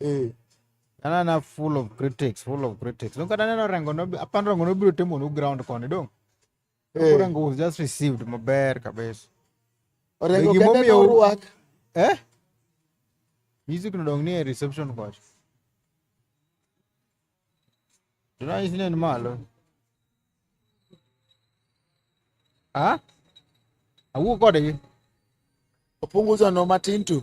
eh. anana full of critics full of critics nokata neno rengo apand rengo nobiro temo nu ground koni dong eh. rengo was just received maber kabisa orengo kende norwak eh music nodong ni e reception kocha Ranyisi ne malo. Ah? Awuo kodgi. Opunguza no matin tu.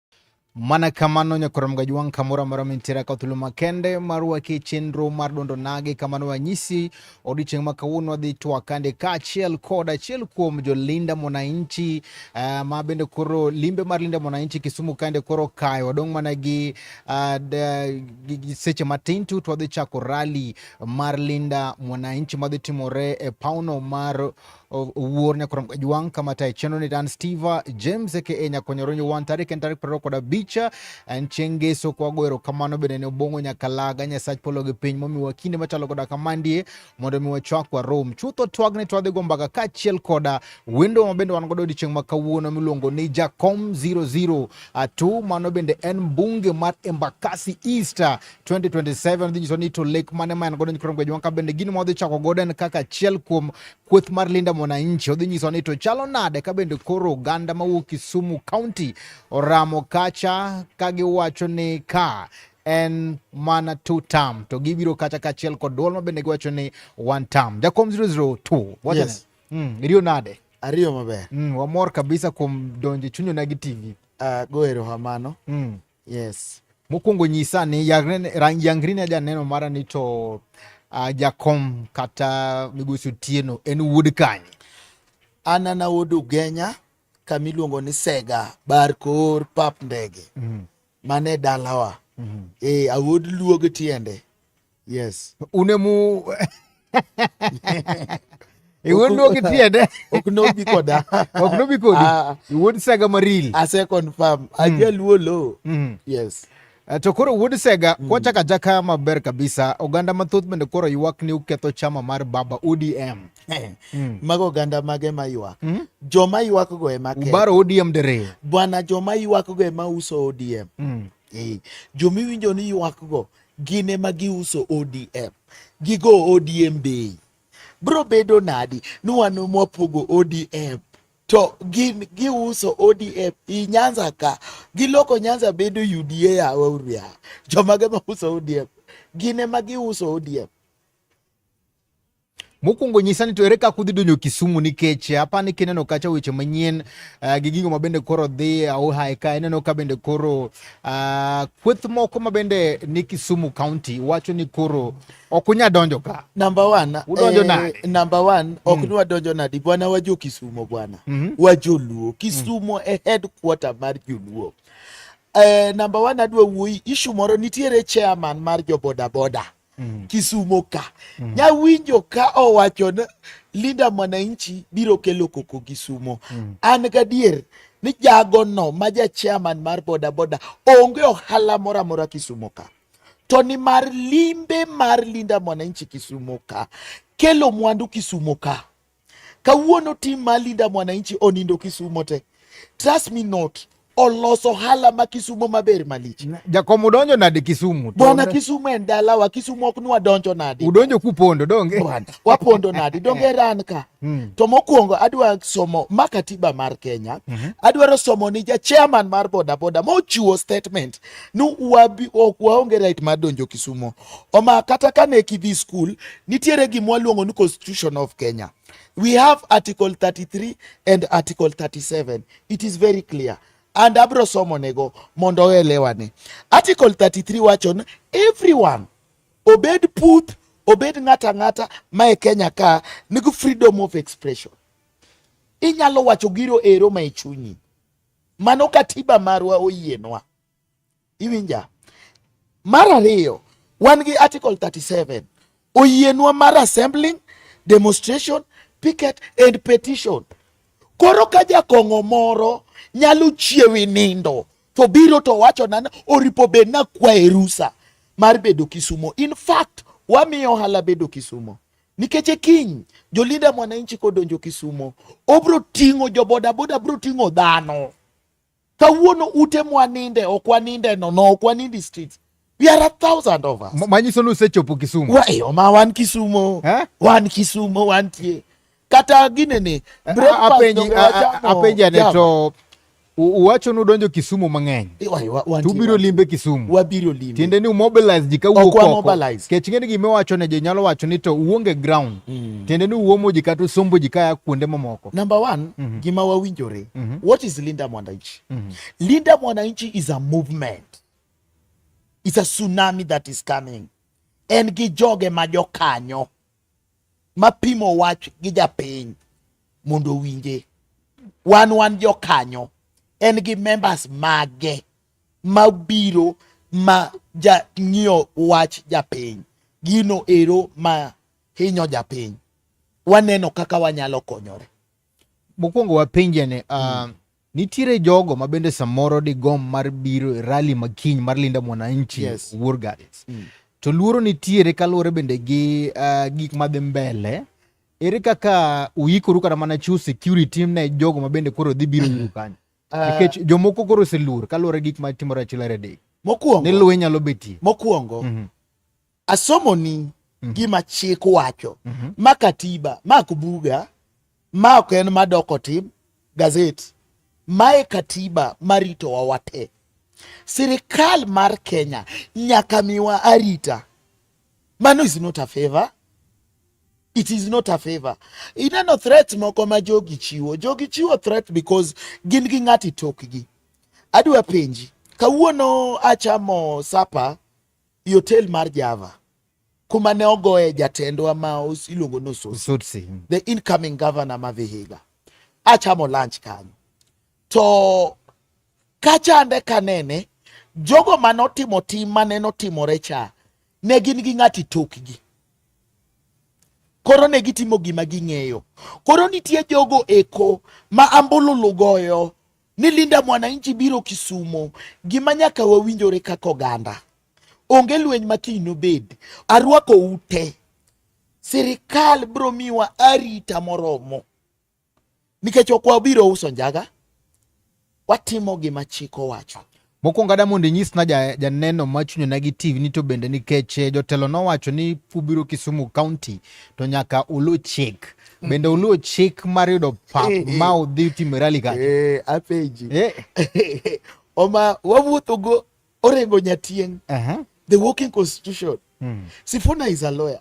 Mana kamano nyakoram gajwang' kamoro amora mintiere ka thuolo makende mar waki chenro mar dondo nagi kamano wanyisi odiochieng' ma kawuono wadhi twakande kaachiel kod achiel kuom jolinda mwananchi uh, ma bende koro limbe mar linda mwananchi Kisumu kande koro kayo wadong' mana gi, uh, gi seche matin tu to wadhi chako rali mar linda mwananchi madhi timore e pauno mar owuor nyakorom kajwang kama tayo chenro ni dan steve james aka nyakonyoronyo wan tarik en tarik prariyo kod abich en chieng' ngeso kwago erokamano bende ne obong'o nyakalaga nyasach polo gi piny momiwa kinde machalo koda kamandie mondo mi wachwak warom chutho twagne twadhi go mbaka kaachiel koda wendo ma bende wan godo odiechieng' ma kawuono miluongo ni jacom 002 mano bende en mbunge mar embakasi east 2027 dhi nyiso ni to lek mane ma en godo nyikrom gwejo wanka bende gini ma odhi chako godo en kaka achiel kuom kweth mar linda mwananchi odhi nyiso ni to chalo nade ka bende koro oganda mawuok Kisumu County oramo kacha ka giwacho ni ka en mana two term to gibiro kacha kachiel kod duol ma bende giwacho ni one term jakom 002 wachane yes. mm, iriyo nade ariyo maber mm, wamor kabisa kuom donjo chunyona gi tv uh, ah, go erokamano mm. Yes. Mokwongo nyisa ni yangri ne janeno mara ni to uh, jakom kata migosi Otieno en wuod kanye? An ana wuod Ugenya kama iluongo ni Sega bar kor pap ndege mm -hmm. mane dalawa mm -hmm. e awuod luog tiende yes une mu e won no ki tiende ok no bi koda ok no bi kodi ah. e won sega maril a se confirm a hmm. je luolo hmm. yes eh, to koro wuod sega mm. kwachaka jaka maber kabisa oganda mathoth bende koro ywak ni uketho chama mar baba odm eh, mm. mago oganda mage ma ywak mm? joma ywak go ema ubaro odm dere bwana joma ywak go ema uso odm mm. e, eh, jomiwinjo ni ywak go gin ema giuso ODM, gigo ODM bei. Bro bedo nadi ni wan mwapogo ODM to gin giuso ODM i Nyanza ka giloko Nyanza bedo UDA yawa uria jomage ma uso ODM gin ema giuso ODM Mokwongo nyisa ni to ere kaka udhi donjo Kisumu nikech eh, apani kineno kacha weche manyien uh, gi gigo mabende koro dhi eh, auhae ka ineno ka bende koro uh, kweth moko mabende ni Kisumu County wacho ni koro ok unya donjo ka. Number one, udonjo eh, nade? Number one, ok mm. nwadonjo nadi bwana wajo Kisumu bwana. Mm -hmm. Wajoluo. Mm. Kisumu mm. e headquarter mar Joluo. Eh, number one adwa wuoyi issue moro nitiere chairman mar jo bodaboda. mm. Kisumo ka mm. Nyawinjo ka owacho ni Linda Mwananchi biro kelo koko Kisumo mm. An gadier ni jagono ma ja chairman mar bodaboda onge ohala moro amora Kisumo ka to ni mar limbe mar Linda Mwananchi Kisumo ka kelo mwandu Kisumo ka Kawuono tim ma Linda Mwananchi onindo Kisumo te. Trust me not. Oloso hala ma Kisumo maber malich. Jakom udonjo nade Kisumu? Bwana Kisumo en dalawa, Kisumo ok nwa donjo nade. Udonjo kupondo donge? Bwana, wapondo nade donge ran ka. Mm. To mokwongo adwa somo ma katiba mar Kenya. Mm -hmm. Adwaro somo ni ja chairman mar boda boda mochiwo statement ni wabi ok waonge right mar donjo Kisumo. Oma kata kane kidhi school nitiere gima waluongo ni constitution of Kenya. We have article 33 and article 37. It is very clear. And abro somo nego mondo oelewane. Article 33 wacho ni everyone obed puth obed ng'ata ng'ata ma e Kenya ka nigi freedom of expression. Inyalo wacho giro ero ma e chunyi. Mano katiba marwa oyienwa. Iwinja? Mar ariyo, wan gi Article 37 oyienwa mar assembling, demonstration, picket and petition. Koro ka jakong'o moro nyalo chiewi nindo to biro to wacho nan oripo bed na kwaye rusa mar bedo Kisumo. In fact, wamiyo ohala bedo Kisumo nikech e kiny jolinda mwananchi kodonjo Kisumo obro ting'o jobodaboda bro ting'o dhano Kawuono ute mwaninde ok waninde nono ok wanindi streets. We are a thousand of us. Manyiso ni usechopo Kisumu. Wa eyo ma wan Kisumo. Eh? Wan Kisumo wantie. Kata ginene. Eh, Apenji ane to uwacho ni udonjo Kisumu mang'eny to ubiro limbe Kisumu, wabiro limbe tiende ni umobilize ji kawuok oko kech ng'eni gima iwacho ne ji nyalo wacho ni to uonge ground mm. tiende ni uomo ji kata usombo ji kaya kuonde mamoko Number one, mm -hmm. Gima Wawinjore. Mm -hmm. What is Linda Mwananchi? Mm -hmm. Linda Mwananchi is a movement. It's a tsunami that is coming. En gi joge ma jokanyo ma pimo wach gi japiny mondo owinje. Wan wan jokanyo. En gi members mage ma biro ma ja ng'iyo wach japiny. Gino ero ma hinyo japiny, waneno kaka wanyalo konyore. Mokwongo wapenjane uh, ah, hmm. nitiere jogo ma bende samoro digom mar biro e rali ma kiny mar Linda Mwananchi yes. Wuor Gardens mm. to luoro nitiere kaluwore bende gi uh, gik madhi mbele ere kaka uikoru kata mana chiwo security ne jogo ma bende koro dhi biro yiru kanyo ah. nikech uh, jomoko koro oseluor kaluwore gik ma timore achiel aredek mokwongo ni lweny nyalo betie mokwongo mm -hmm. Asomoni mm -hmm. gima chik wacho mm -hmm. ma katiba ma kubuga ma ok en madoko tim gazet mae katiba maritowa wate. Sirikal mar Kenya nyaka miwa arita. Mano is not a favor. It is not a favor. Ineno threat moko ma jogi chiwo. Jogi chiwo threat because gin gi ng'ati tokgi. Adwa penji, kawuono achamo sapa i hotel mar Java kuma ne ogoye jatendwa ma iluongo ni Osotsi, hmm. the incoming governor ma Vihiga. Achamo lunch kanyo to kachande kanene jogo mane otimo tim mane notimore cha ne gin gi ng'ati tokgi koro ne gitimo gima ging'eyo koro nitie jogo eko ma ambululu goyo ni Linda Mwananchi biro Kisumo, gima nyaka wawinjore kaka oganda. Onge lweny ma kiny nobed. Arwako ute. Sirikal biro miwa arita moromo. Nikech ok wabiro uso njaga, watimo gima chik owacho. Mokwongo ada mondo inyisna janeno ja ma chunye nagi TV ni to bende nikech eh, jotelo nowacho ni pubiro Kisumu County to nyaka ulu chik. Mm. Bende ulu chik mar yudo pap eh, eh. ma udhi time rally ka. Eh, apeji. Eh. Oma wawuotho go orengo nyatieng. Uh -huh. The working constitution. Hmm. Sifuna is a lawyer.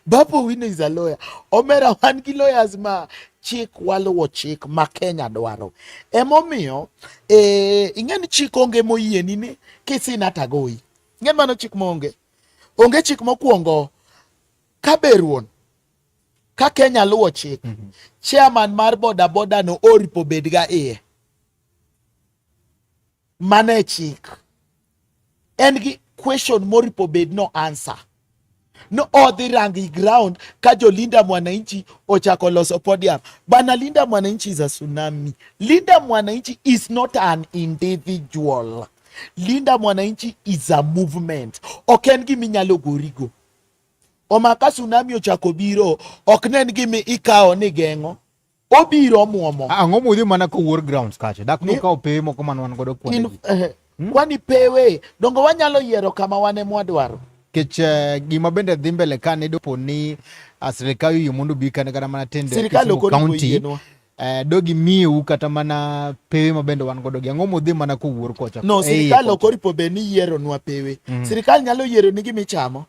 Babu Wino is a lawyer. Omera wan gi lawyers ma chik waluwo chik ma Kenya dwaro. Emomiyo eh, ing'e ni chik onge moyieni ni kisina tagoyi. Ing'e mano chik monge. Onge chik mokwongo ka beruon ka Kenya luwo chik mm -hmm. chairman mar bodaboda no oripo bedga iye Mano e chik. En gi question moripo bed no answer. No odhi rang i ground ka jo Linda Mwananchi ochako loso podium. Bana Linda Mwananchi is a tsunami. Linda Mwananchi is not an individual. Linda Mwananchi is a movement. Ok en gima inyalo gorigo. Omaka tsunami ochako biro, ok ne en gima ikawo ni geng'o. obiro muomo ah, ang'o mudhi mana ka war grounds kacha dak ni kawo pewe moko man wan godo kuonde eh, hmm? kwani pewe dongo wanyalo yiero kama wane mwadwaro kech eh, gima bende dhi mbele ka ne dopo ni ah, sirikal yie mondo bi kane kata mana tende sirikal ok county eh, dogi miu kata mana pewe ma bende wan godo gi ang'o modhi mana kowuor kocha no sirikal ok oripo be ni yiero nwa pewe mm. sirikal nyalo yiero ni gimichamo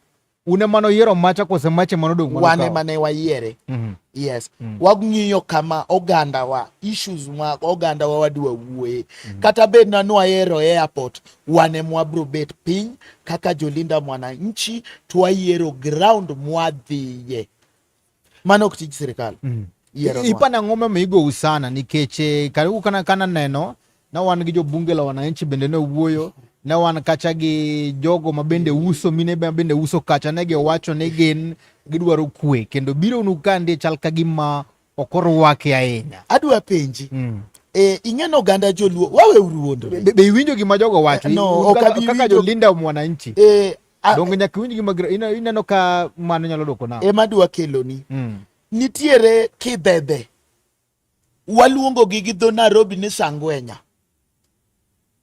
un ema noyiero macha kose mach ema nodong' mano wan kawo? ema ne wayiere Mhm. yes Mm. wang'iyo kama ogandawa issues ma ogandawa wadwa wuoye kata bed na nwayero e airport wan ema wabro bet piny kaka jolinda mwananchi twayiero ground mwadhiye Mano ok tij sirkal. Mm. Ipana ng'oma ma igo usana nikech eh, karibu kana kana neno na wan gi jobunge la wananchi bende ne wuoyo ne wan kacha gi jogo ma bende uso mine ma bende uso kacha ne gi wacho ni gin gidwaro kwe kendo biro nu kande chal ka gima ok orwake ahinya. Adwa penji. Mm. Eh, ing'eno oganda joluo wawe uruondo be, be iwinjo gima jogo wacho eh, no, kaka jolinda mwananchi eh, Ah, Donge nyaka winj gima gra- ina- ineno ka mano nyalo dwoko na. ema dwa keloni Mm. nitiere kidhedhe waluongogi gi dho nairobi ni sangwenya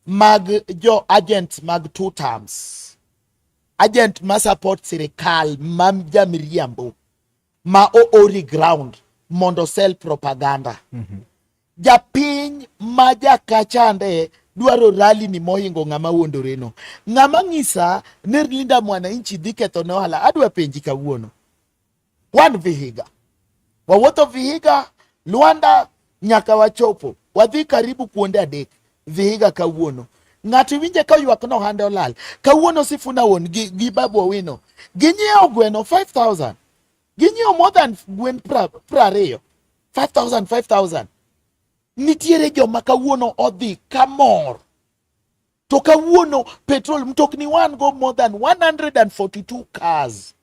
mag jo agents mag two terms agent ma support sirikal ma jamiriambo ma oori ground mondo sell propaganda Japiny ma jakachande dwaro rali ni mohingo ng'ama wuondore no. Ng'ama ng'isa ni Linda Mwananchi dhi ketho ne ohala, adwa penji kawuono. Wan Vihiga, wawuotho Vihiga, Luanda nyaka wachopo, wadhi karibu kuonde adek Vihiga kawuono. Ng'ato iwinje ka ywak no hande olal. Kawuono Sifuna won gi, gi Babu Owino ginyiewo gweno 5000 Ginyiewo more than gwen prariyo, 5,000, 5,000. Nitiere joma kawuono odhi kamor. To kawuono petrol mtokni wan go more than 142 cars.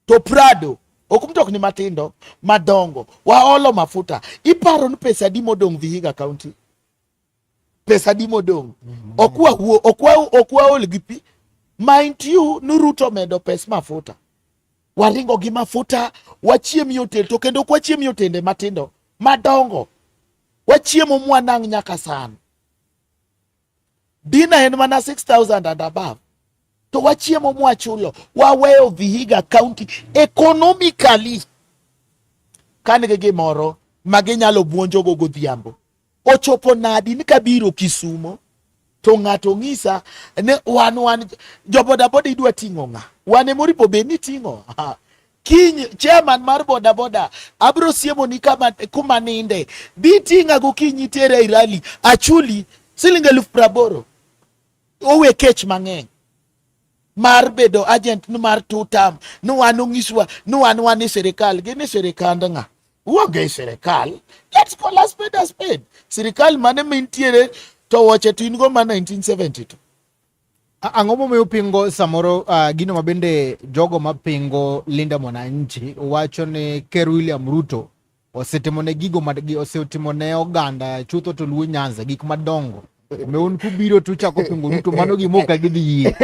To Prado ok mtokni matindo madongo waolo mafuta iparo ni pesa adi modong' Vihiga County pesa di modong' okwa wuo okwa okwa ol gi pi mind you nuruto medo pes mafuta waringo gi mafuta wachiem yotel to kendo kwachiem yotende matindo madongo wachiemo mwanang' nyaka san dina en mana 6000 and above to wachiemo mwachulo waweyo Vihiga County economically kan gi gimoro ma ginyalo buonjogo godhiambo ochopo nadi ni kabiro Kisumo to ng'ato ng'isa ne wan wan jo bodaboda idwa ting'o ng'a wane moripo be ni ting'o kiny chairman mar bodaboda abro siemo ni kama kuma ninde dhi ting'a gokinyi tere ai rali achuli siling eluf praboro owe kech mang'eny mar bedo agent ni mar two term ni wan onyiswa ni wan wan e sirikal gin e sirikand ng'a uonge e sirikal let's call a spade a spade sirikal mane mintiere to woche to in go ma 1972 Ang'o momiyo pingo samoro uh, gino ma bende jogo mapingo Linda Mwananchi wacho ni Ker William Ruto osetimone gigo ma osetimone oganda chutho to luo nyanza gik madongo meun kubiro to uchako pingo duto mano gima ok agidhi yie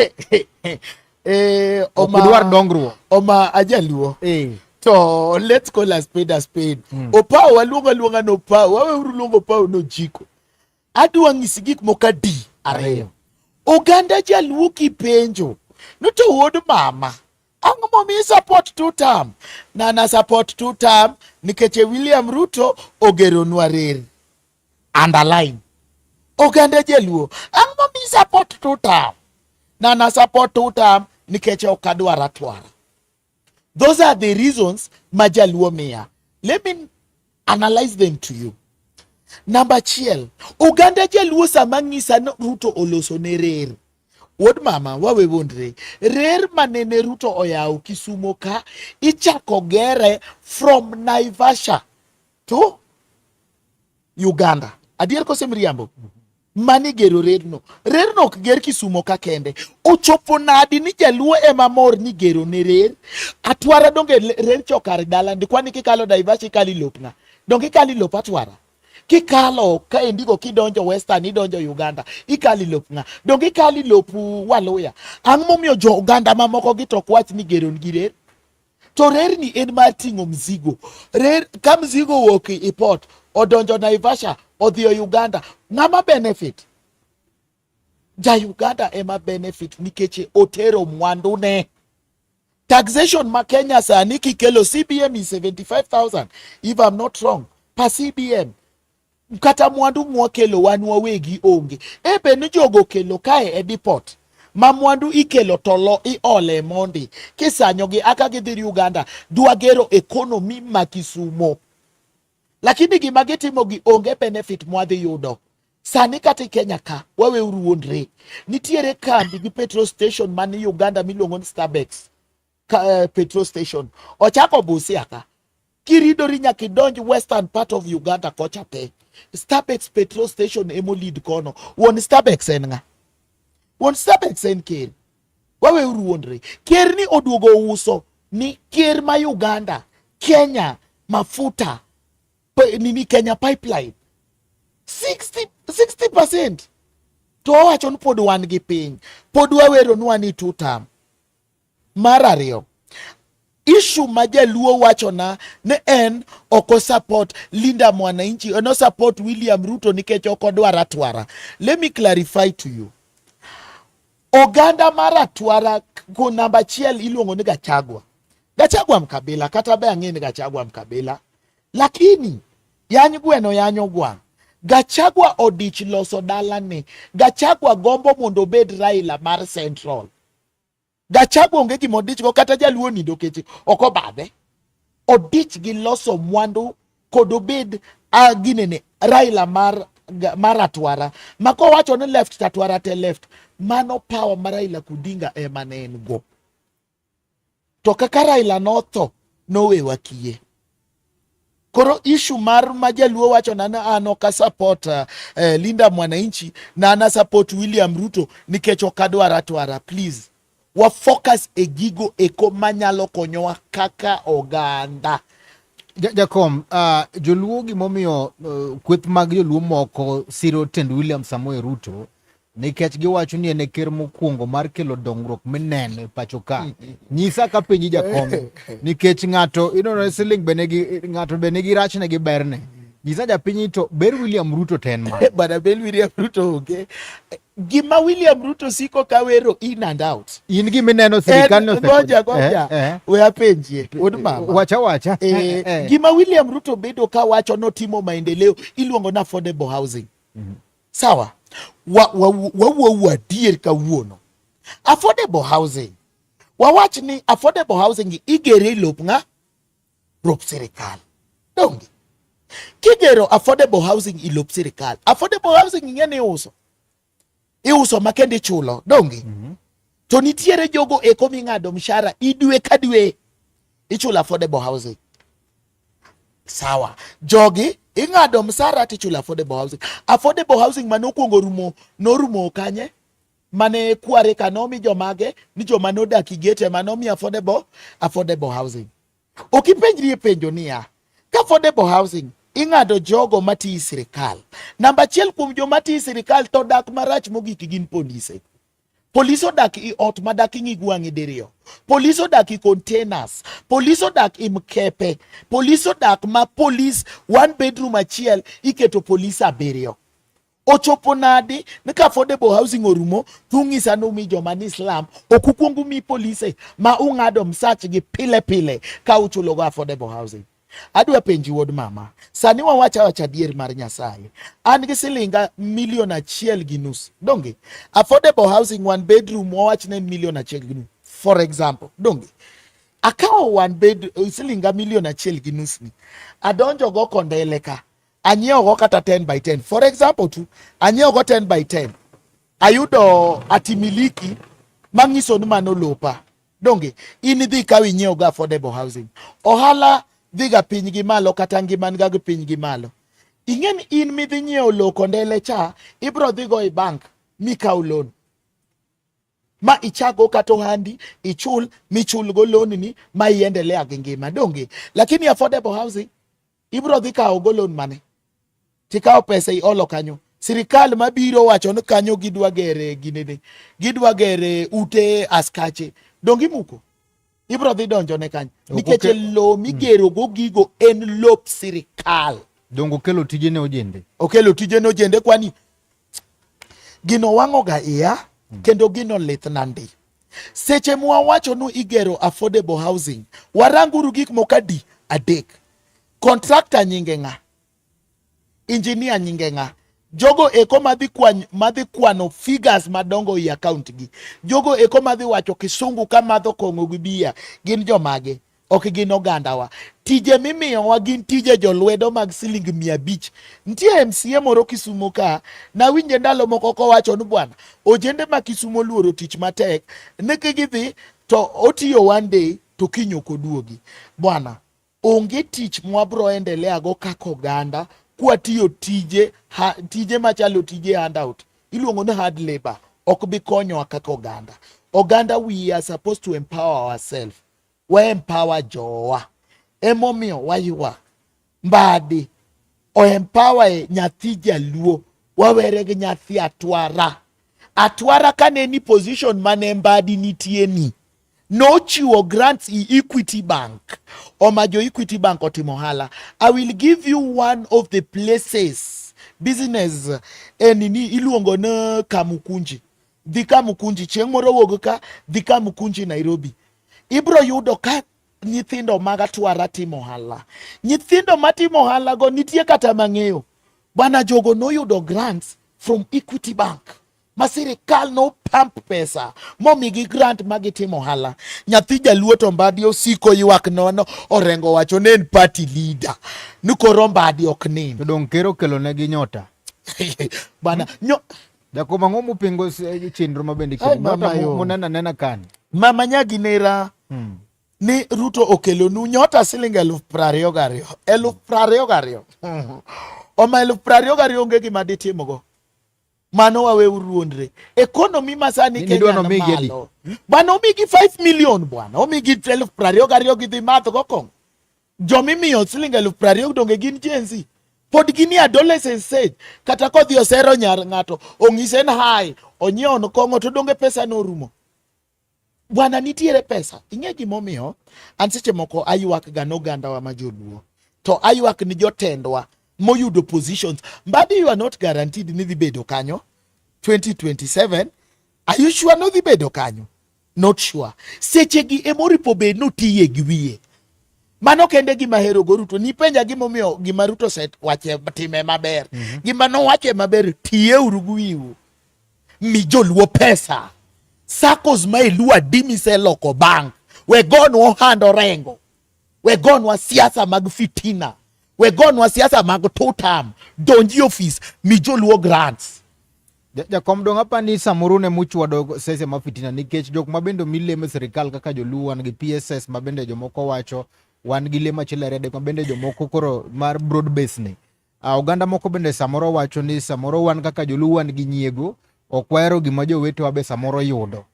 eh, ok dwar dongruok oma ajaluo eh. to let's call a spade a spade mm. opawo waluongo aluonga ni opawo waweuru luongo opawo ni ojiko adwa ng'isi gik moko adi ariyo oganda jaluo kipenjo noto wuod mama Ang'o momiyo isupport two term? Na na support two term nikech e William Ruto ogeronwa reri. Underline. Oganda Jaluo, ang'o momiyo isupport two term? Na na support two term nikech ok adwar atwara. Those are the reasons ma Jaluo miya. Let me analyze them to you namba achiel oganda jaluo sama ng'isa ni ruto oloso ne rer wuod mama wawe wondre rer manene ruto oyawo kisumo ka ichako gere from naivasha to uganda adier kose miriambo mani gero rerno. Rerno ok ger Kisumo ka kende. Ochopo nadi ni jaluo ema mor ni gero ne rer? Atwara donge rer chokar dala ndi kwani kikalo Daivashi kali lopna. Donge kali lop atwara? Kikalo ka endigo kidonjo Western idonjo Uganda ikali lop nga. Donge ikali lop Waluya? Ang'o momiyo jo Uganda mamoko gi to kwach ni gero gi rer? to rerni en mar ting'o mzigo rer ka mzigo owuok e port odonjo naivasha odhi e uganda ng'ama benefit ja uganda ema benefit nikech otero mwandune taxation ma kenya sani kikelo cbm is 75000 if i'm not wrong per cbm kata mwandu mwakelo wan wawegi onge e be ni jogo okelo kae e deport ma mwandu ikelo to lo iole mondi kisanyogi aka gidhiri uganda dwagero ekonomi ma kisumo lakini gima gitimo gi onge benefit mwadhi yudo sani kata kenya ka waweuru wuondre nitiere kambi gi petrol station man uganda miluongo ni starbex uh, petrol station ochako Busia ka kiridori nyaka idonj western part of Uganda kocha te Starbex petrol station emo lead kono wuon Starbex en ng'a wuon Starbex en ker wawe uruondre ker ni oduogo uso ni ker ma Uganda Kenya mafuta nini Kenya pipeline 60 60% to owacho ni pod wan gi piny pod waweronu ani two term Mar ariyo, ishu ma jaluo wachona ni en ok osupport Linda Mwananchi, en osupport William Ruto nikech ok odwar atwara. Let me clarify to you. Oganda mar atwara ko namba achiel iluongo ni Gachagua. Gachagua Mkabila kata be ang'e ni Gachagua Mkabila, lakini yany gweno yanyo gwang'. Gachagua odich loso dalane. Gachagua gombo mondo obed Raila mar Central. Gachagua onge gima odichgo kata jaluo nindo keche ok obadhe. Odich gi loso mwandu kod obed uh, ginene Raila mar mar atwara ma kowacho ni left to atwara te left mano power ma Raila Kudinga ema ne en go to kaka Raila notho nowewa kiye Koro ishu mar ma jaluo wacho na an ok support uh, eh, Linda Mwananchi na an support William Ruto nikech ok adwar atwara. Please wa focus e gigo eko manyalo konyowa kaka oganda. Jakom, uh, joluo gimomiyo uh, kweth mag joluo moko siro tend William Samoei Ruto nikech giwacho ni en e ker mokwongo mar kelo dongruok mineno e pacho ka nyisa ka penji jakom nikech ng'ato inono siling be nigi ng'ato be nigi rachne gi berne nyisa japiny to ber William Ruto ten ma bana ber William Ruto onge gima William Ruto siko ka wero in and out in gima ineno sirikal no goja goja eh, eh. we apenjie od mama wacha wacha eh, eh, gima William Ruto bedo ka wacho notimo maendeleo iluongo na affordable housing mm -hmm. Sawa, wawuo wa, wa, wa, adier kawuono. Affordable housing, wawach ni affordable housing igere e lop ng'a? Lop sirikal, donge? Kigero affordable housing i lop sirikal, affordable housing ing'e ni iuso iuso makende ichulo, donge? mm -hmm. To nitiere jogo eko ming'ado mshahara idwe ka dwe ichulo affordable housing. Sawa. Jogi ing'ado msara tichulo affordable housing. Affordable housing mane okuongo rumo norumo kanye? Mane kware kanomi jomage ni joma nodak igete manomi affordable affordable housing. Ok ipenjri e penjo niya, ka affordable housing ing'ado jogo mati i sirikal. Namba achiel kuom joma ti i sirikal to dak marach mogik gin polise. Polis odak i ot ma dak ing'i gwang'i diriyo. Polis odak i containers. Polis odak i mkepe. Polis odak ma polis one bedroom achiel iketo polis abiriyo. Ochopo nadi ni ka affordable housing orumo tung'isa ni umi joma ni slum ok ukwong umi polise ma ung'ado msach gi pile pile ka uchulogo affordable housing. Adwa penji wuod mama, sani wawacha wacha adier mar Nyasaye. An gi silinga milion achiel gi nus. Donge affordable housing one bedroom wawach ne milion achiel gi nus. For example, donge akawo one bed silinga milion achiel gi nus ni. Adonjo go kondele ka. Anyiewo go kata 10 by 10. For example tu, anyiewo go 10 by 10. Ayudo atimiliki manyiso ni mano lopa. Donge in idhi kaw inyiew ga affordable housing. Ohala dhi ga piny gi malo kata ngima ga gi piny gi malo. Ing'e ni in midhi nyiew low kondele cha ibro dhi go e bank mikaw loan ma ichago kata ohandi ichul michulgo loan ni ma iendelea gi ngima donge, lakini affordable housing ibro dhi kawo go loan mane tikawo pesa iolo kanyo sirikal mabiro wacho ni kanyo gidwa gere ginene gidwa gere ute askache dongi muko ibro dhi donjo ne kanyo nikech lo migero go gigo en lop sirikal dongo kelo tije ne ojende okelo tije ne ojende kwani gino wang'oga iya mm. kendo gino lith nandi Seche mwawacho nu igero affordable housing, waranguru gik moko adi adek. Contractor nyinge ng'a? Engineer nyinge ng'a? Jogo eko madhi kwany, madhi kwano figures madongo e account gi. Jogo eko madhi wacho kisungu ka madho kong'o gi bia gin jomage? ok gin ogandawa. Tije mimiyowa gin tije jolwedo mag siling mia abich. Nitie MCA moro Kisumo ka nawinje ndalo moko kowacho ni bwana, ojende ma Kisumo oluoro tich matek ni gidhi to otiyo one day to kiny ok oduogi. Bwana, onge tich mwabro endelea go kaka oganda kwatiyo tije ha, tije machalo tije handout iluongo ni hard labor ok bi konyowa kaka oganda. Oganda we are supposed to empower ourselves waempower jowa emomiyo waywak mbadi oempower e nyathi jaluo wawere gi nyathi atwara atwara kane ni position mane mbadi nitie ni nochiwo grants e equity bank oma jo equity bank otimo ohala i will give you one of the places business enini eh, iluongo ni kamukunji dhi Kamukunji chieng' moro wuog ka dhi Kamukunji Nairobi, ibro yudo ka nyithindo mag atwara timo ohala. Nyithindo matimo ohala go nitie kata mang'eyo bana jogo noyudo grants from Equity Bank ma sirikal no pump pesa momigi grant ma gitimo ohala. Nyathi jaluo to Mbadi osiko ywak nono orengo wacho ne en party leader ni koro Mbadi ok nind. Dong' ker okelonegi nyota bana nyo Jakom ang'o mupingo eh, chenro ma bende munena nena kan. Mama nyagi nera. Hmm. Ni Ruto okelonu nyota siling eluf prariyo gariyo. Eluf prariyo gariyo. Hmm. Oma eluf prariyo gariyo onge gima ditimogo. Mano wawe uruondre. Ekonomi ma sani Kenya ni malo. Bwana omigi 5 million bwana. Omigi eluf prariyo gariyo gidhi madh go kong. Jomimiyo siling eluf prariyo donge gin jenzi? Pod gini adolescent stage. Kata kodhi osero nyar ng'ato, ong'ise ni hai, onyiewo kong'o to donge pesa norumo. Bwana nitiere pesa. Ing'e gimomiyo? An seche moko aywak ga nogandawa ma joluo. To aywak ni jotendwa moyudo positions. Mbadi you are not guaranteed ni dhi bedo kanyo 2027. Are you sure no dhi bedo kanyo? not sure sechegi ema oripo be notiye gi wiye mano kende gima hero go Ruto nipenja gimomiyo gima Ruto set wache time maber mm -hmm. gima nowache maber tiye uru gi wiu mi joluo pesa sakos ma iluwa dimi se loko bank we go no hando rengo wegonwa siasa mag fitina, wegonwa siasa mag two term, donji ofis mi joluo grants. Jakom dong apa ni samoro ne muchwado sese ma fitina nikech jok ma bende mileme sirikal kaka joluo wan gi PSS ma bende jomoko wacho wan gi lema chilere de ma bende jomoko koro mar broad base ni. Uh, oganda moko bende samoro wacho ni samoro wan kaka joluo wan gi nyiego ok wahero gima jowetewa be samoro yudo.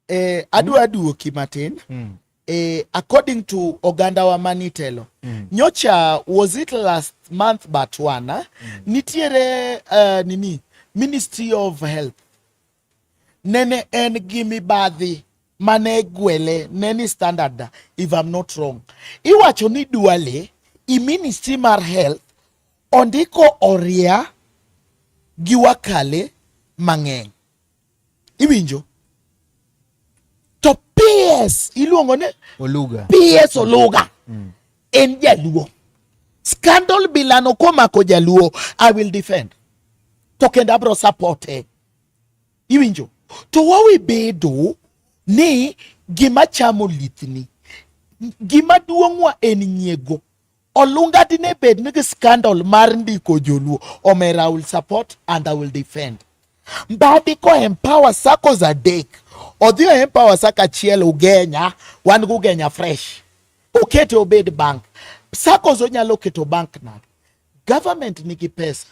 Eh, adwa mm. duoki matin. Mm. Eh, according to oganda wa manitelo. Mm. Nyocha was it last month but one. Mm. Nitiere uh, nini Ministry of Health. Nene en gi mibadhi mane gwele neni standard if I'm not wrong. Iwacho ni duale i Ministry mar Health ondiko oria gi wakale mang'eny Iwinjo? To PS iluongo ni Oluga. PS Oluga. Mm. En jaluo. Scandal bilano komako jaluo, I will defend. To kendo abro support e. Iwinjo? To wawe bedo ni gima chamo lithni. Gima duong'wa en nyiego. Olunga dine bed nigi scandal mar ndiko joluo omera I will support and I will defend. Mbadi ko empower SACCOs adek odhi o empower sacco achiel Ugenya wan gi Ugenya fresh okete obed bank SACCOs onyalo keto bank na government nigi pesa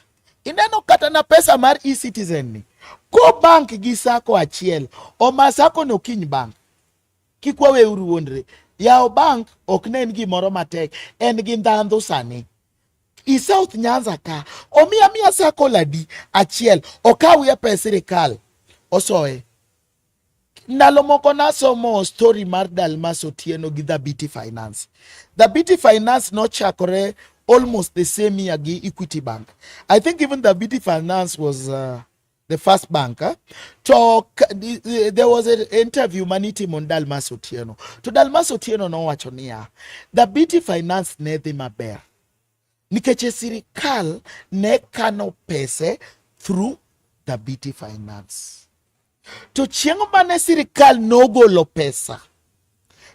ineno kata na pesa mar e-citizen ni ko bank gi SACCO achiel oma SACCO no kiny bank Kik waweuru wuondre. Yawo bank ok ne en gimoro matek, en gi ndhandhu sani. I South Nyanza ka, omiya miya circle adi achiel, okawie pes sirikal, osoye. Ndalo moko nasomo story mar Dalmas Otieno gi Dhabiti Finance. Dhabiti Finance nochakore almost the same year gi Equity Bank. I think even Dhabiti Finance was uh, the first bank eh? to there was an interview manitimo ni Dalmas Otieno to Dalmas Otieno nowacho niya the BT Finance ne dhi maber nikech e sirikal ne kano pese through the BT Finance to chieng' mane sirikal nogolo pesa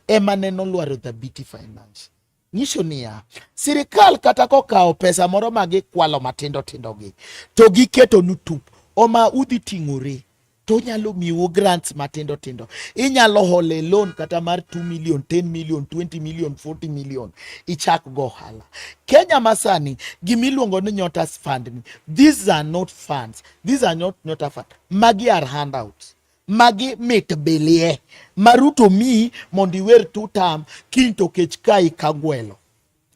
ema ne nolwaro the BT Finance nyiso niya, sirikal kata kokawo pesa moro ma gikwalo matindo tindogi to giketo nu tup oma udhi ting'ore to onyalo miwu grants matindo tindo. Inyalo hole loan kata mar 2 million, 10 million, 20 million, 40 million ichak go ohala. Kenya masani gima iluongo ni Nyota Fund ni, these are not funds, these are not Nyota Fund, magi are handouts. magi mit bilie maruto mi mondo iwer tutam kiny to kech kai ka gwelo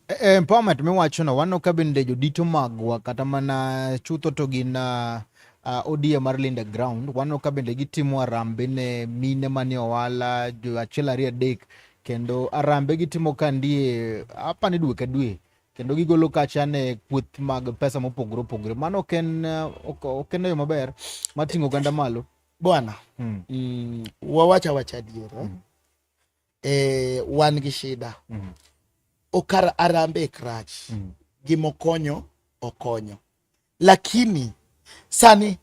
e, e, empowerment miwachono wano ka bende jodito magwa kata mana chutho to gin uh, uh, odia mar linda ground wano ka bende gitimo arambe ne mine manie owala jo achiel ariyo adek kendo arambe gitimo ka ndie apani dwe ka dwe kendo gigolo kacha ne kweth mag pesa mopogore opogore. Mano ok en eh, ok ok en yo maber mar ting'o oganda malo. bwana Mm. mm, wawach awacha adier eh? Mm. eh, wan gi shida Mm. okar arambe e krach Mm. gimokonyo okonyo lakini sani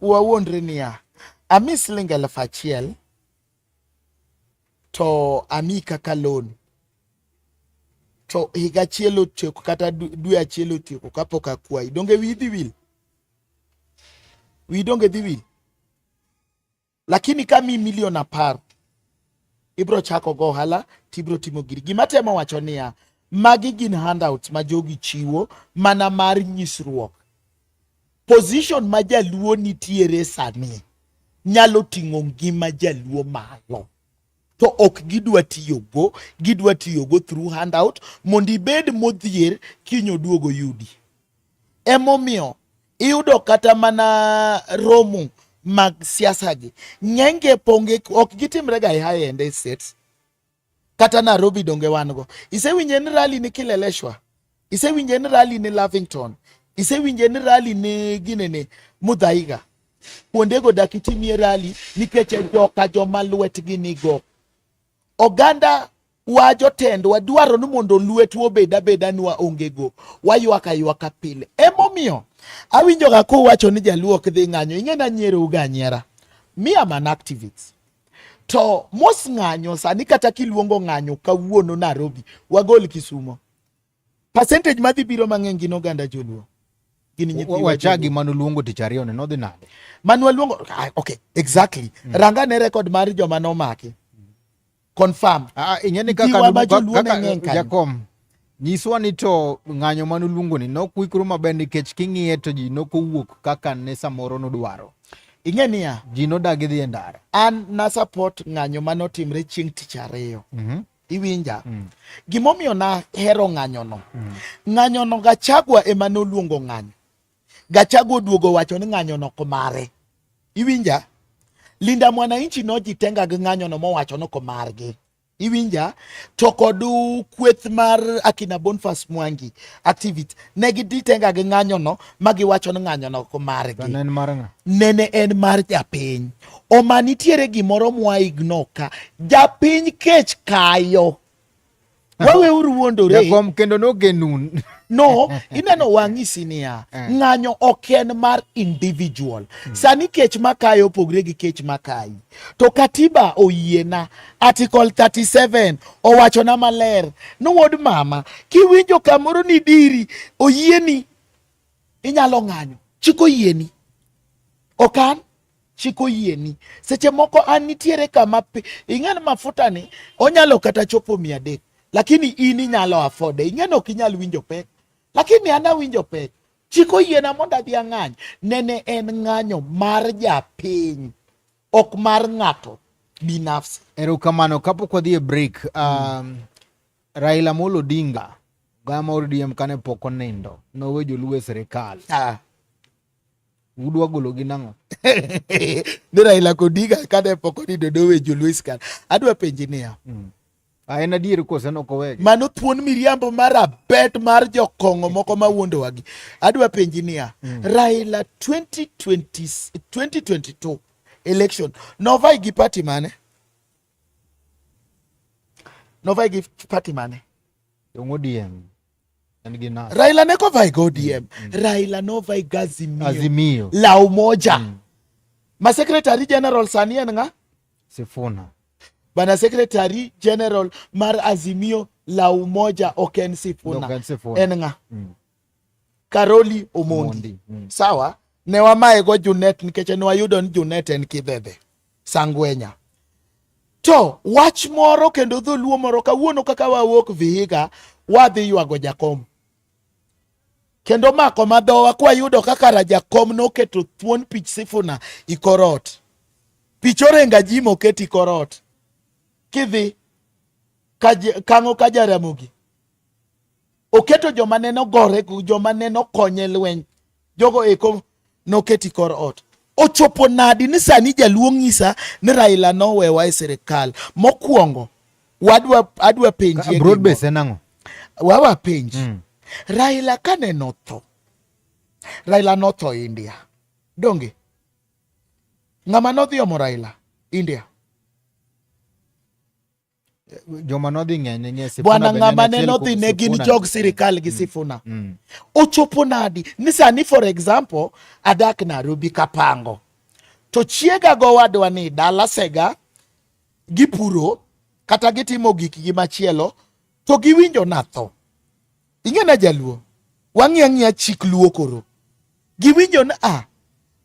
wawuondre niya ami siling elfu achiel to ami kaka loan to higa achiel otieko kata dwe achiel otieko kapok akwayi donge wiyi dhi wil wiyi donge dhi wil Lakini ka mi milion apar ibro chako go ohala tibro timo giri. Gima temo wacho niya, magi gin handouts ma jogi chiwo mana mar nyisruok. Position ma jaluo nitiere sani nyalo ting'o ngima jaluo malo. to ok gidwa tiyogo, gidwa tiyogo through handout mondo ibed modhier kiny oduogo yudi. Emomiyo iyudo kata mana romo mag siasa gi ng'enge ponge ok gitimre ga e high end estates kata Nairobi donge wan go isewinje ni rally ni Kileleshwa isewinje ni rally ni Lavington isewinje ni rally ni gine ni Mudhaiga kuondego dak itimie rally nikech e joka joma lwetgi nigo oganda wa jotendwa dwaro ni mondo lwetu obed abeda nwa ongego waywak aywaka pile emomiyo awinjoga kuwacho ni jaluo ok dhi ng'anyo ing'e na nyierowu ga nyiera mi am an activist to mos ng'anyo sani kata kiluongo ng'anyo kawuono Nairobi wagol Kisumo Percentage madhi biro mang'eny gin oganda joluo. Gin nyithiwa. Wachagi manu luongo tich ariyo ne nodhi nade? Manu luongo ah, okay, exactly. Mm. Ranga ne record mar joma nomaki. Mm. Confirm. Ah, ah ingeni kaka kaka Jakom. Nyiswa ni to ng'anyo manu luongo ni nok wikru maber nikech king'iye to ji nok owuok kaka ne samoro nodwaro. Ing'e niya. Ji nodagi dhi e ndara. An na support ng'anyo manotimre chieng' tich ariyo. Mm -hmm. Iwinja? Mm. Gimomiyo nahero ng'anyono. Mm. Ng'anyono Gachagua ema noluongo ng'anyo. Gachagua oduogo wacho ni ng'anyono ok mare. Iwinja? Linda Mwananchi nojitenga gi ng'anyono mowacho ni ok margi. iwinja to kod kweth mar akina Boniface Mwangi activity ne giditenga gi ng'anyono ma giwacho ni ng'anyono ok margi nene en mar japiny Oma nitiere gimoro mwa igno ka. Japiny kech kayo. Wawe uru wuondore. Jakom kendo nogenun. No, ineno wang'isi niya, eh. ng'anyo ok en mar individual. Hmm. Sani kech makayo opogre gi kech makayi. To katiba oyiena, article 37 owachona maler ni wuod mama, kiwinjo kamoro ni diri oyieni inyalo ng'anyo, chik oyieni. Okan? chiko yieni seche moko an nitiere kama ing'en mafuta ni onyalo kata chopo mia adek lakini in inyalo afode ing'en ok inyal winjo pek lakini an awinjo pek chiko yiena mondo adhi ang'any nene en ng'anyo mar japiny ok mar ng'ato binafsi erokamano kapok wadhi e break um, mm. raila molo odinga gama odm kane pok onindo nowe joluo e sirikal ah. udwa golo gi nang'o ni Raila Kodiga kane poko ni dodo we joluis kan adwa penji niya mm. Ah, en adier kose nok owegi mano thuon miriambo mar abet mar jokong'o moko ma wuondowagi adwa penji niya mm. Raila 2020, 2022 election novai gi party mane novai gi party mane Ong'odiem Raila ne ko vai ODM. Mm, mm. Raila no vai gazimio. Azimio. La umoja. Mm. Ma secretary general sani en nga? Sifuna. Bana secretary general mar Azimio la umoja Oken Sifuna. Oken Sifuna. En nga? Mm. Karoli Omondi. Omondi. Mm. Sawa. Ne wamaye go Junet nikech ne wayudo ni Junet en kibebe. Sangwenya. To wach moro kendo dholuo moro kawuono kaka wawuok Vihiga wadhi ywago jakom kendo mako madhowa kwayudo kaka rajakom noketo thuon pich sifuna ikorot pich orenga ji moket ikorot kidhi kango ka jaramogi Oketo joma ne nogore, joma ne nokonye lweny, jogo eko noketi kor ot. Ochopo nadi ni sani jaluo ng'isa ni Raila nowewa e sirikal? Mokwongo wadwa adwa penjie broad base en ang'o? Wawa penji mm. Raila kane notho, Raila notho India donge ng'ama nodhi omo Raila India joma nodhi ng'ene ng'e Sifuna bwana ng'ama ne nodhi ne gin jog sirikal gi mm. Sifuna mm. ochopo nadi ni sani for example adak Nairobi kapango to chiega gowadwa ni dala sega gipuro kata gitimo gikgi machielo to giwinjo natho ing'ena jaluo wang'i ang'iya chik luo koro giwinjo ni a ah,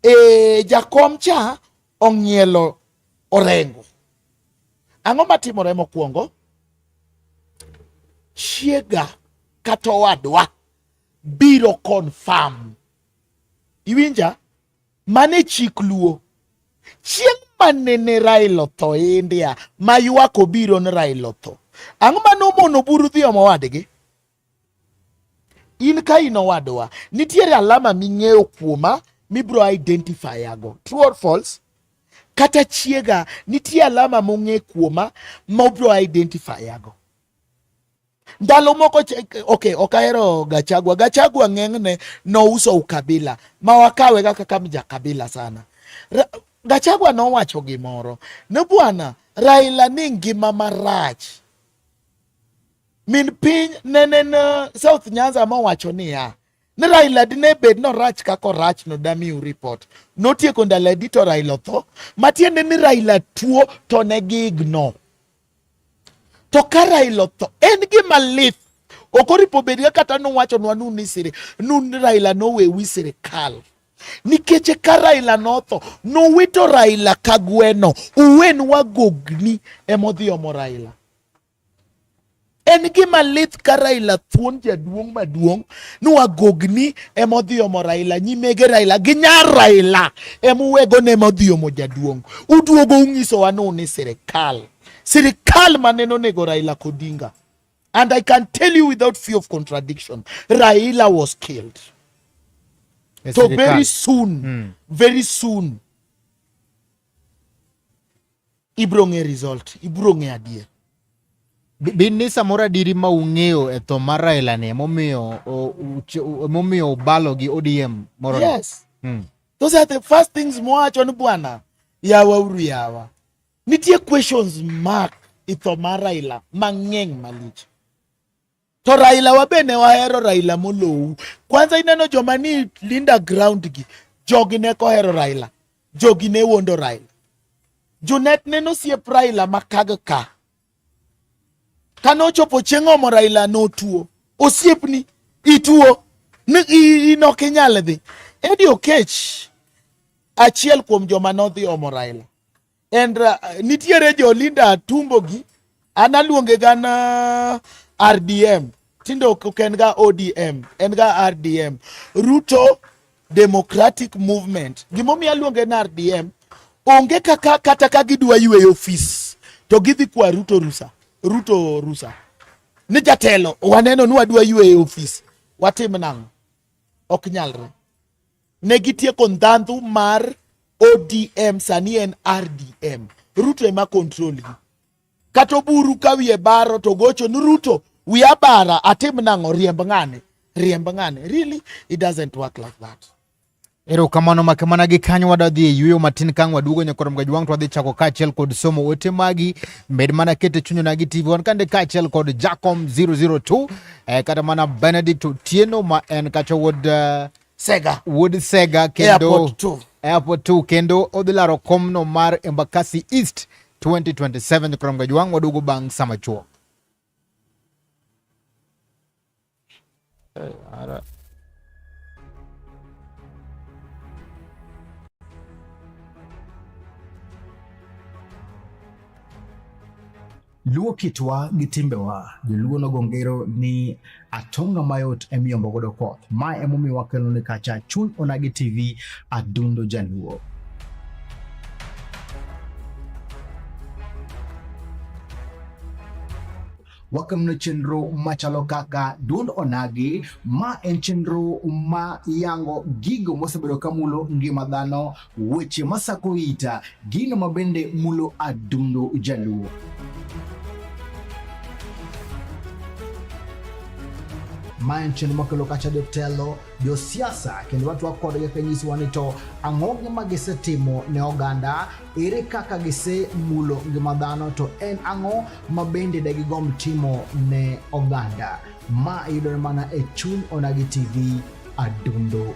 e, jakom cha ong'ielo orengo. Ang'o matimore mokwongo? Chiega kata owadwa biro confirm. Iwinja? Mane chik luo. Chieng' manene Raila otho India ma ywak obiro ni Raila otho. Ang'o mane omono buru dhi omo wadgi? In ka in owadwa, nitiere alama ming'eyo kuoma mibro identify ago. True or false? Kata chiega nitie alama mong'e kuoma ma obro identify ago. Ndalo moko okay, ok ahero Gachagua. Gachagua ng'eng'ne nouso ukabila ma wakawe kaka kama ja kabila sana. Ra, Gachagua nowacho gimoro ne bwana Raila ni ngima marach Min piny nenen uh, South Nyanza mowacho niya ni Raila dine bed norach kaka orach no damiu report. Notieko ndalo adi to Raila otho. Matiende ni Raila tuo to ne gigno. To ka Raila otho en gima lith ok oripo bedga kata nuwachonwa nu ni siri nu ni Raila nowewi sirikal nikech ka Raila notho nuwito Raila ka gweno uwen wagogni emodhi omo Raila En gima lith ka Raila thuon jaduong' maduong' ni wagogni ema odhi omo Raila, nyimege Raila gi nyar Raila ema uwego ne ema odhi omo jaduong'. Uduogo unyisowa ni un e sirikal, sirikal ma nene onego Raila Odinga. And I can tell you without fear of contradiction, Raila was killed. E so very soon, mm. very soon Ibro ng'e result, ibro ng'e adier. Bin ni samoro adiri ma ung'eyo e tho mar Raila ni emomiyo emomiyo ubalo gi ODM moro. Yes. Hmm. Those are the first things mwacho ni bwana yawa uru yawa. Nitie questions mark i tho mar Raila mang'eny malich. To Raila wabe ne wahero Raila molowu. Kwanza ineno joma ni Linda ground gi jogi ne kohero Raila. Jogi ne wondo Raila. Junet neno siep Raila makag ka. Kane ochopo chieng' omo Raila notuo. Osiepni ituo ni inok inyal dhi. Eddie Okech achiel kuom joma nodhi omo Raila. and uh, nitiere jo Linda Tumbo gi an aluonge ga na uh, RDM tinde ok en ga ODM en ga RDM Ruto Democratic Movement gimomiyo aluonge na RDM onge kaka kata ka gidwa yweyo ofis to gidhi kwa Ruto rusa Ruto rusa ni jatelo waneno ni wadwa yweyo ofis watim nang'o ok nyalre ne gitieko ndhandhu mar odm sani en rdm ruto ema control gi kata oburu ka wiye baro to gocho ni ruto wiya bara atim nang'o riemb ng'ane riemb ng'ane really it doesn't work like that erokamano make mana gi kanyo wadadhi e yueyo matin kang waduogo nyakorom ga jwang to wadhi chako kaachiel kod somo ote magi med mana kete chunyo nagi tv wan kande kaachiel kod jacom 002 eh, kata mana benedict otieno ma en kacha wuod uh, Sega. Wuod Sega kendo Airport 2. Airport 2 kendo odhi laro komno mar Embakasi East 2027 krom gajwang' waduogo bang' sama chuo. Ara. Luo kitwa gi timbewa, joluo nogo ngero ni atonga mayot emiyombo godo koth. Ma emomiyo wakelo ni kacha chuny onagi TV adundo jaluo. wakamno chenro machalo kaka duond onagi ma en chenro ma yango gigo mosebedo kamulo ngima dhano Weche masako ita gino mabende mulo adundo jaluo. Maen chenro makelo kacha jotelo, josiasa kendo watu wakwado kaka nyisi wani to ang'o ma gisetimo ne oganda, ere kaka gise mulo ngima dhano to en ang'o ma bende de gigom timo ne oganda. Ma yudore mana e chuny Onagi TV adundo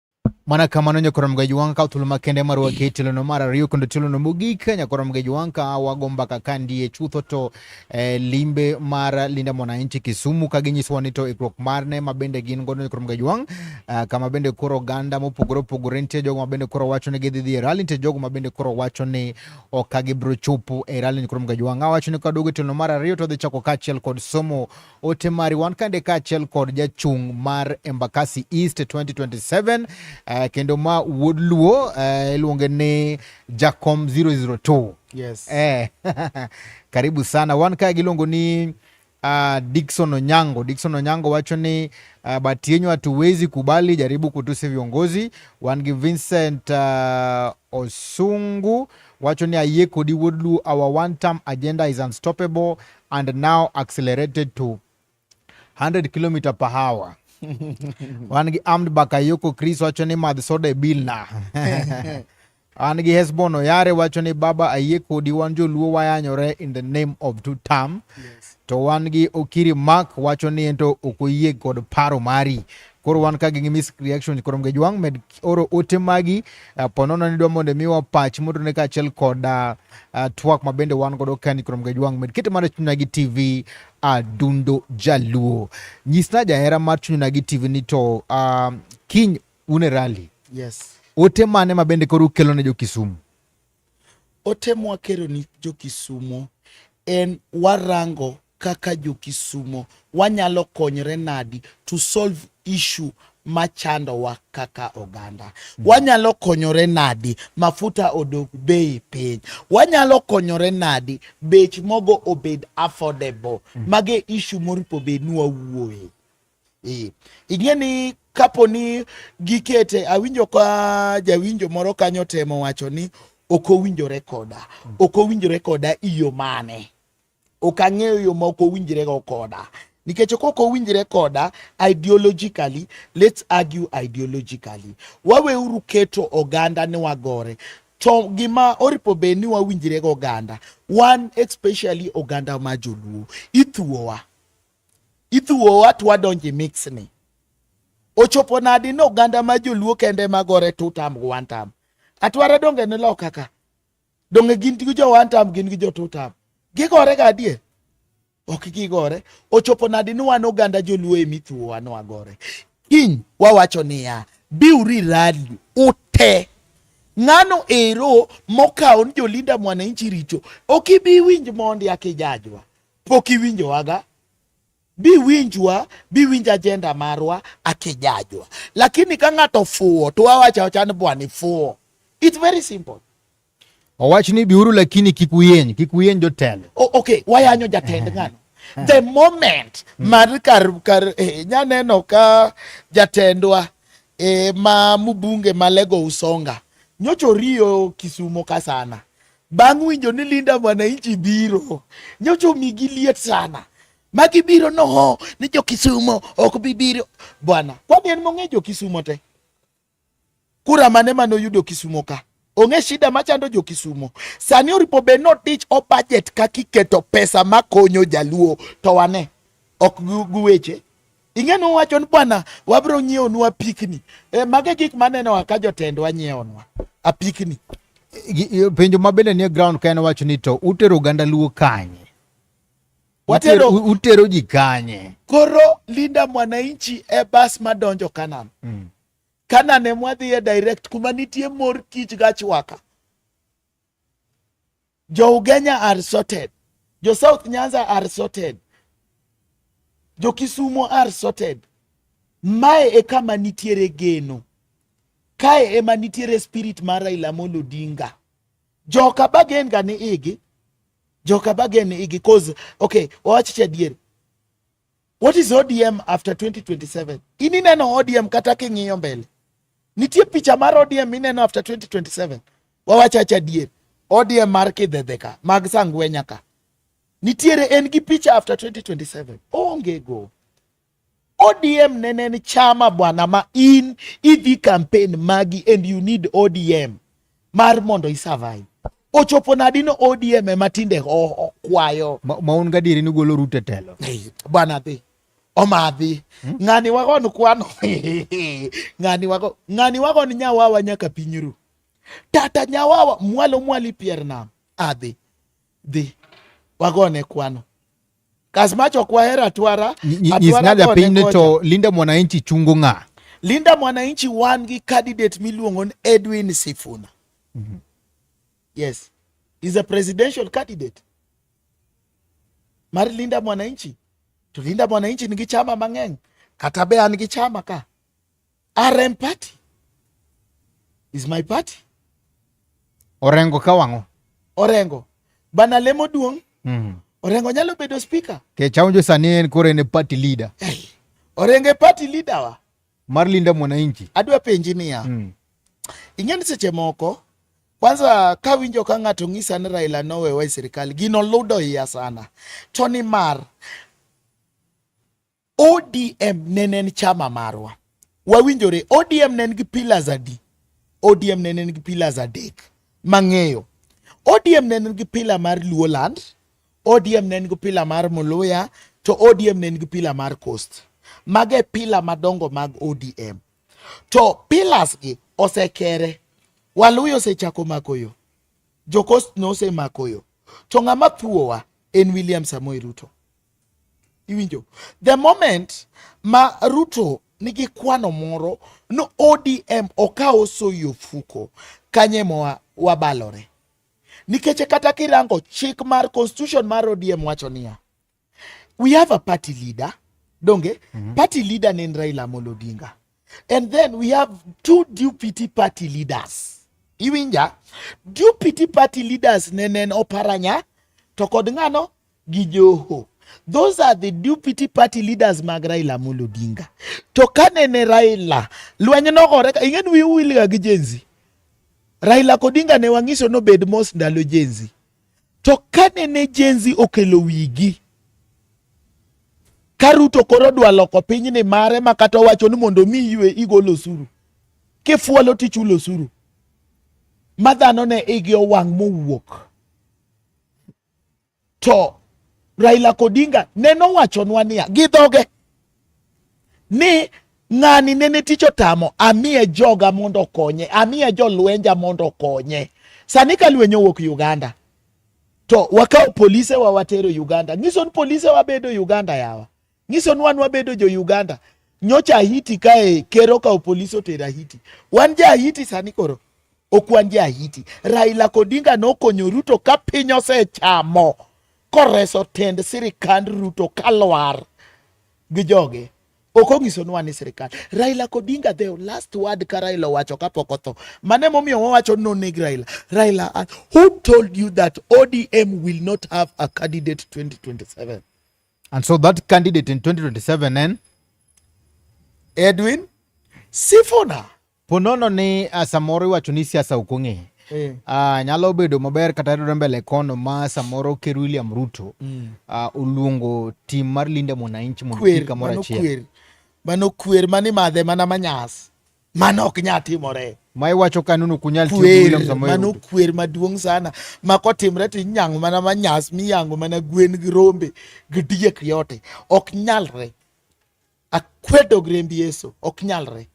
mana kamano nyakoro mgaji wanga ka thuolo makende mar wake tilono mar ariyo kendo tilono mogik nyakoro mgaji wanga ka wago mbaka ka ndiye chutho to eh, limbe mar linda mwananchi kisumu ka ginyisowa ni to ikruok marne ma bende gin godo nyakoro mgaji wang uh, kama bende koro oganda mopogore opogore nitie jogo ma bende koro wacho ni gidhi dhi e rali nitie jogo ma bende koro wacho ni ok ka gibiro chopo e rali nyakoro mgaji wang awacho ni kaduogo e tilono mar ariyo to dhi chako kaachiel kod somo Ote mari wan kande kaachiel kod jachung' mar Embakasi East 2027 uh, eh, kendo ma wuod Luo eh, iluonge uh, ni Jacom 002. Yes. Eh, karibu sana wan kae giluongo ni uh, ah, Dikson Onyango. Dikson Onyango wacho ni uh, ah, bati yenyu hatuwezi kubali, jaribu kutusi viongozi. Wan gi Vincent uh, Osungu wacho ni ayie kodi wuod Luo, our one term agenda is unstoppable. and now accelerated to 100 km per hour wan gi Amd Bakayoko Chris wacho ni madh soda e bil na an gi Hesbon Oyare wacho ni baba ayie kodi wan joluo wayanyore in the name of two term yes. to wan gi Okiri Mark wacho ni ento ok oyie kod paro mari koro wan ka gi miss reaction koro nge jwang med oro ote magi uh, eh, ponono ni dwa mondo miwa pach mondo ne kaachiel kod uh, uh, twak ma bende wan godo kani koro nge jwang med kete mar chunyna gi tv adundo jaluo nyisna jahera mar chunyna gi tv ni to uh, kiny une rally yes ote mane ma bende koro ukelo ne jo kisumu Ote mwa kero ni jo Kisumo en warango kaka jo Kisumo wanyalo konyre nadi to solve issue machandowa kaka oganda. Wanyalo konyore nadi mafuta odog bei piny? Wanyalo konyore nadi bech mogo obed affordable? Mage issue moripo bed ni wawuoye. Ee. Ing'e ni kapo ni gikete awinjo ka jawinjo moro kanyo temo wacho ni ok owinjore koda mm. ok owinjore koda iyo mane ok ang'eyo yo ma ok owinjrego koda nikech ok ok owinjre koda ideologically let's argue ideologically waweuru keto oganda ni wagore to gima oripo bed ni wawinjrego oganda wan especially oganda ma joluo ithuowa Ithuowa to wadonjo e mix ni. Ochopo nadi ni oganda ma joluo kende ma gore two term gi one term. Atwara donge ni loka ka. Donge gin gi jo one term gin gi jo two term. Gigore ga adier. Ok gigore. Ochopo nadi ni wan oganda joluo e mithuowa ni wagore. Kiny wawacho niya biuri rali ute ng'ano ero mokawo ni jolinda mwananchi richo ok ibi winj mondi akijajwa pok iwinjowaga biwinjwa biwinj ajenda marwa akijajwa lakini ka ng'ato fuwo to wawacha wacha ni bwana ifuwo it's very simple owach ni biuru lakini kik uyeny kik uyeny jotelo okay wayanyo jatend ng'ano the moment hmm. mar kar kar eh, nyaneno ka jatendwa eh, ma mubunge malego usonga nyocho riyo kisumo ka sana Bang' winjo ni Linda Mwananchi biro, nyocha omigi liet sana ma gibiro noho ni jo Kisumo ok bi biro bwana. Kwani en mong'e jo Kisumo te? Kura mane mane oyudo Kisumo ka? Ong'e shida machando jo Kisumo. Sani oripo be no tich o budget kaka iketo pesa makonyo jaluo to wane ok guweche Ing'e no wacho ni bwana wabro nyiewo nwa pikni. E, mage gik maneno wa ka jotendwa nyiewo nwa apikni. Penjo ma bende nie ground ka en wacho ni to utero oganda luo kanye? Watero utero ji kanye? Koro Linda Mwananchi e bas madonjo Kanan. Mm. Kanan e mwadhiye direct kuma nitie mor kich gachwaka. Jo Ugenya are sorted. Jo South Nyanza are sorted. Jo Kisumo are sorted. Mae e kama nitiere geno. Kae ema nitiere spirit mar Raila Amolo Odinga. Joka bagen ga ni igi. Joka bagen ni igi cause okay, wawach cha adier. What is ODM after 2027? Ini neno ODM kata king'iyo mbele. Nitie picha mar ODM ineno after 2027. Wawacha cha dier. ODM mar kidhedhe ka, mag sangwenya ka. Nitiere en gi picha after 2027. Onge go. ODM nene ni chama bwana ma in idhi campaign magi and you need ODM. mar mondo i survive ochopo nadi no ODM ema tinde kwayo maun gadieri ni golo rute telo bwana dhi omadhi hmm? ng'ani wago ni kwano ng'ani wago ng'ani wago ni nyawawa nyaka piny ru tata nyawawa mwalo mwali pier nam adhi dhi wagone kwano Kasmacho kwa hera twara. Nyis ng'a japiny to Linda Mwananchi chungo ng'a? Linda Mwananchi wan gi candidate miluongo ni Edwin Sifuna. Mm -hmm. Yes. He's a presidential candidate. Mar Linda Mwananchi. To Linda Mwananchi nigi chama mang'eny. Kata be an gi chama ka. RM party is my party. Orengo ka wang'o. Orengo. Bana lemo duong'. Mm. Orengo nyalo bedo speaker. Ke chaunjo sani en kore ne party leader. Hey. Orengo e party leader wa. Mar linda mwananchi. Adwa penji niya. Mm. Ing'e ni seche moko kwanza ka winjo ka ng'ato ng'isa ni Raila nowewa e sirikal gino ludo iya sana to ni mar ODM ne en chama marwa. Wawinjore ODM ne en gi pillars adi? ODM ne en gi pillars adek mang'eyo. ODM ne en gi pillar mar Luoland, ODM ne en gi pillar mar Muluya, to ODM ne en gi pillar mar Coast. Mago e pillar madongo mag ODM. To pillars gi osekere. Waluya osechako mako yo. Jo Coast ne osemako yo. To ng'ama thuowa en William Samoei Ruto. Iwinjo? The moment ma Ruto nigi kwano moro no ODM okawo soyi ofuko kanye moa wabalore nikech kata kirango chik mar constitution mar ODM wacho niya we have a party leader donge mm -hmm. party leader ne en Raila Amolo Odinga And then we have two DPT party leaders. Iwinja? DPT party leaders nenen oparanya to kod ng'ano gi Joho. Those are the DPT party leaders mag Raila Amolo Odinga. To ka nene Raila lweny nogore ing'eni wiu wilga gi jenzi. Raila Odinga ne wang'iso nobed mos ndalo jenzi. To kane ne jenzi okelo wigi ka Ruto koro dwa loko piny ni mare ma kata owacho ni mondo mi ywe igol osuru kifuolo tichulo osuru ma dhano ne igi owang' mowuok to Raila Kodinga neno wachonwa niya gi dhoge ni ng'ani nene tich otamo amiye joga mondo okonye amiye jolwenja mondo okonye sani ka lweny owuok uganda to wakawo polise wa watero uganda nyiso ni polise wabedo uganda yawa nyiso ni wan wabedo jo uganda nyocha ahiti kae ker okawo polise otero ahiti wan ja ahiti sani koro ok wan ja ahiti raila kodinga nokonyo ruto ka piny osechamo koreso tend sirikand Ruto kalwar gi joge ok onyisonwa ni sirikal Raila Kodinga the last word ka Raila owacho kapok otho mane momiyo wawacho no neg Raila Raila uh, who told you that ODM will not have a candidate 2027 and so that candidate in 2027 then Edwin Sifuna Ponono ni ah, samoro iwacho ni siasa ok ong'e eh. Uh, nyalo bedo maber kata yudore mbele kono ma samoro ker William Ruto mm. uh, oluongo tim mar Linda Mwananchi mondo kik kamoro achiel. Mano kwer mani madhe mana manyas. Mano ok nya timore. Ma iwacho ka nunu kunyal tiyo William Samoei. Mano kwer maduong' sana. Ma kotimre to inyango mana manyas miyango mana gwen gi rombe gi diek yote. Ok nyalre. akwedo gi remb Yesu, ok nyalre.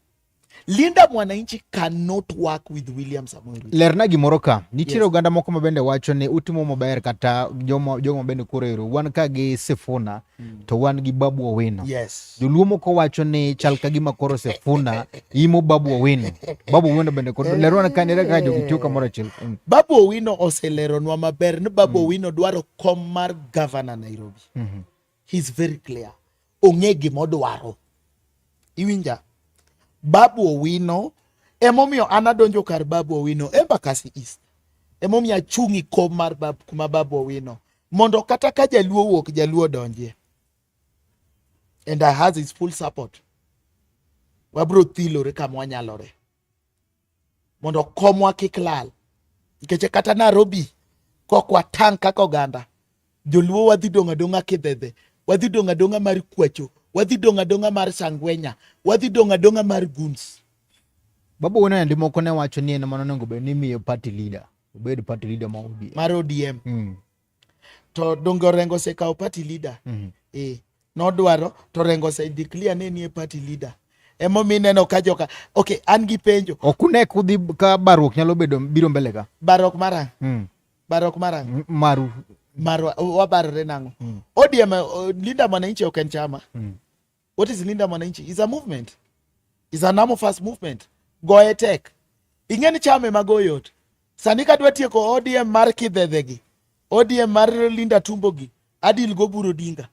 Linda Mwananchi cannot work with William Samoei Ruto. Lerna gimoro ka nitiere yes. oganda moko ma bende wacho ni utimo maber kata jogo jomo bende koro ero wan ka gi Sifuna mm. to wan gi Babu Owino. Yes. Joluo moko wacho ni chal ka gima koro Sifuna imo Babu Owino. Babu Owino bende koro eh. lerona ka nere ka jogi tiyo kamoro achiel. Mm. Babu Owino oseleronwa maber ni Babu mm. Owino dwaro kom mar governor Nairobi. Mm -hmm. he is very clear ong'e gima odwaro iwinja babu owino emomiyo an adonjo kar babu owino embakasi east emomiyo achung' ikom mar bab, kuma babu owino mondo kata ka jaluo wuok jaluo donjie and i has his full support wabro thilore kama wanyalore mondo komwa kik lal nikech kata Nairobi kok watang' kaka oganda joluo wadhi dong' adong'a kidhedhe wadhi dong' adong'a mar kwacho wadhi dong' adong'a mar sangwenya wadhi dong' adong'a mar guns babu wena ndi moko ne wacho ni en mano onego bed ni miyo party leader obed party leader ma ODM mar ODM mm. to donge orengo osekawo party leader mm -hmm. eh, nodwaro to rengo ose declare ne nie party leader emomiyo ineno ka joka okay an gi penjo ok une kudhi ka baruok nyalo bedo biro mbele ka baruok marang mm. baruok marang mm, maru maru wabarore nang'o mm. odm uh, linda mwananchi ok en chama mm. What is Linda Mwananchi? Is a movement. Is an arm first movement. Go attack. Ingeni chame magoyot. Sani kadwa tieko ODM mar kidhedhegi. ODM mar Linda Tumbogi. Adil go buro dinga.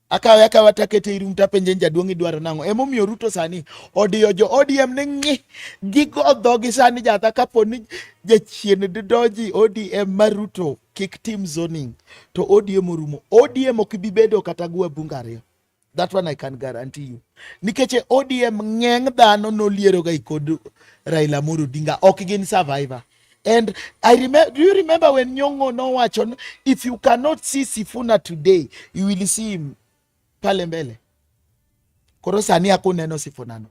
Akawe akawa takete irum tapenje jaduong' idwaro nang'o. Emomiyo Ruto sani odiyo jo ODM ni ng'i. Gigo dhogi sani jatha kapo ni jachien doji ODM mar Ruto kik tim zoning. To ODM orumo. ODM ok bi bedo kata gwa bunga ariyo. That one I can guarantee you. Nikech e ODM ng'eng dhano nolieroga i kod Raila Amolo Odinga ok gin survivor. And I remember, do you remember when Nyong'o nowacho if you cannot see Sifuna today you will see him pale mbele. Koro sani akuneno Sifuna no.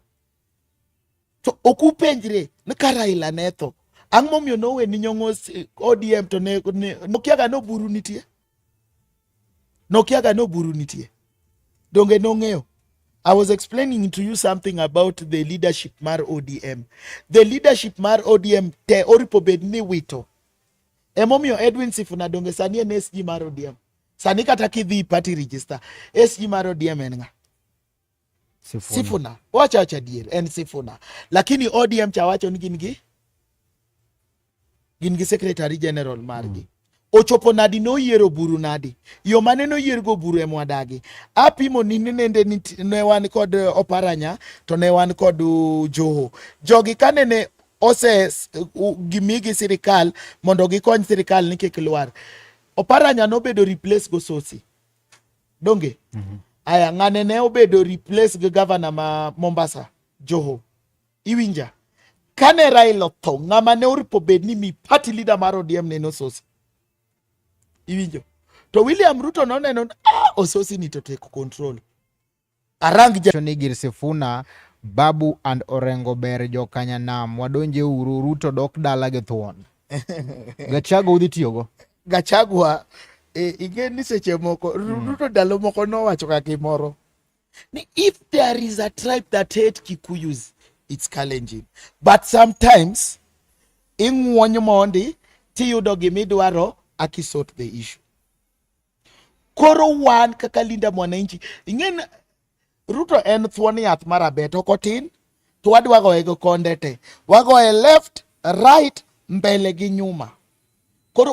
To okupenjre ni ka Raila ne tho ang'o momiyo nowe ni Nyong'o ODM to ne, ne, nokiaga noburu nitie. nokiaga ni oburu nitie donge nong'eyo I was explaining to you something about the leadership mar ODM. The leadership mar ODM te oripo bed ni wito. Emomiyo Edwin Sifuna donge sani en SG mar ODM. Sani kata kidhi party register, SG mar ODM en ng'a? Sifuna, Sifuna. Wacha wacha dier en Sifuna, lakini ODM chawacho ni gin gi gin gi secretary general margi mm. ochopo nadi noyiero buru nadi yo mane noyiergo buru e mwadagi apimo ni nende ne wan kod eh, oparanya to ne wan kod uh, joho jogi kanene ose uh, gimigi sirikal mondo gikony sirikal ni kik lwar oparanya nobedo replace go sosi donge mm -hmm. aya ng'ane ne obedo replace gi gavana ma mombasa joho iwinja kane raila otho ng'ama ne oripo bed ni mi party leader mar odm ne nososi iwinjo to william ruto noneno ah, ososi ni to take control Arang ni gir Sifuna, Babu and Orengo ber jokanya nam wadonje uru Ruto dok dala gi thuon. Gachago udhi tiyogo. Gachagua e, ing'e ni seche moko hmm. Ruto ndalo moko nowacho ka gimoro ni if there is a tribe that hate Kikuyus it's challenging but sometimes ing'wony mondi tiyudo gimidwaro akisort the issue Koro wan kaka Linda Mwananchi, ing'eni Ruto en thuon yath mar abet ok otin, to wadwa goye gi konde te, wagoye left right mbele gi nyuma. Koro